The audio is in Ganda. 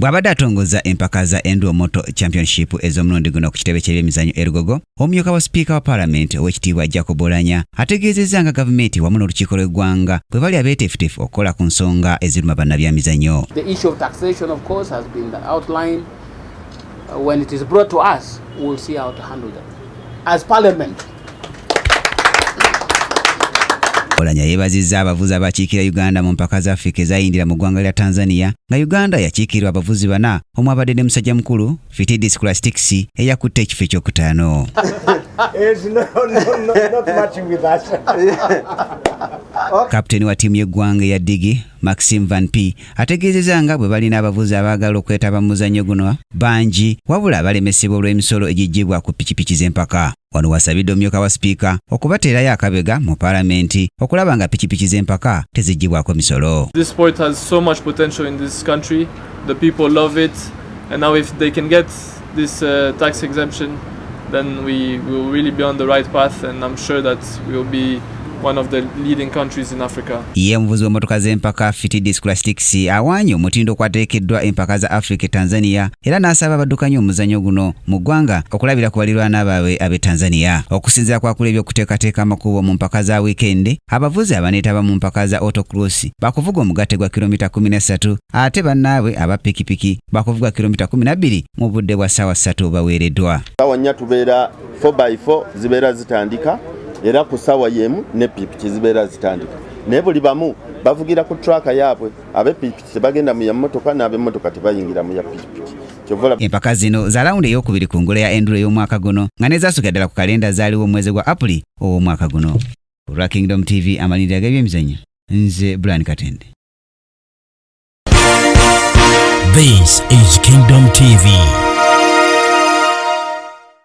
bw'abadde atongoza empaka za Endwo Moto Championship ez'omulundi guno ku kitebe ky'ebyemizanyo e Lugogo, omumyuka wa sipiika wa palamenti ow'ekitiibwa Jacob Olanya ategeezezza nga gavumenti wamu n'olukiiko lw'eggwanga bwe bali abeeteefuteefu okukola ku nsonga eziruma bannabyamizanyo. The issue of taxation of course has been outlined. Uh, when it is brought to us, we'll see how to handle that as parliament. Olanya yeebazizza abavuzi abakiikira Uganda mu mpaka za Afrika ezayindira mu ggwanga lya Tanzania nga Uganda yakiikirwa abavuzi bana omwabadde ne musajja mukulu Fitidis Kulastix eyakutte ekifo ekyokutaano. Kapiteeni wa ttiimu y'eggwanga eya ddigi Maxim Van P ategeezeza nga bwe balina abavuzi abaagala okwetaba mu muzannyo guno bangi wabula balemesebwa olw'emisolo egiggyibwa ku pikipiki z'empaka. Wano wasabidde omumyuka wa sipiika okubateerayo akabega mu palamenti okulaba nga pikipiki z'empaka teziggyibwako misolo. This sport has so much potential in this country. The people love it. And now if they can get this uh, tax exemption, then we will really be on the right path and I'm sure that we will be one of the leading countries in Africa. Ye muvuzi w'emmotoka z'empaka Fitidi Scholastics awaanye omutindo okwateekeddwa empaka za Africa e Tanzania era n'asaba abaddukanya omuzannyo guno mu ggwanga okulabira ku balirwana baabwe ab'e Tanzania. Okusinzira kwakula eby'okuteekateeka amakubo mu mpaka za wiikendi, abavuzi abaneetaba mu mpaka za autocross bakuvuga omugatte gwa kilomita 13 ate bannaabwe aba pikipiki bakuvuga kilomita 12 mu budde bwa ssaawa ssatu obaweereddwa. 4x4 zibeera zitandika era ku ssaawa y'emu ne pikipiki zibeera zitandika naye buli bamu bavugira ku traka yaabwe abepikipiki tebagenda mu ya mmotoka n'abemmotoka tebayingira mu ya pikipiki empaka zino za lawundi eyokubiri ku ngula ya enduro ey'omwaka guno nga nezaasukira ddala ku kalenda zaaliwo omwezi gwa apuli ow'omwaka guno olwa kingdom tv amalindira g'ebyemizanyo nze brian katende This is Kingdom TV.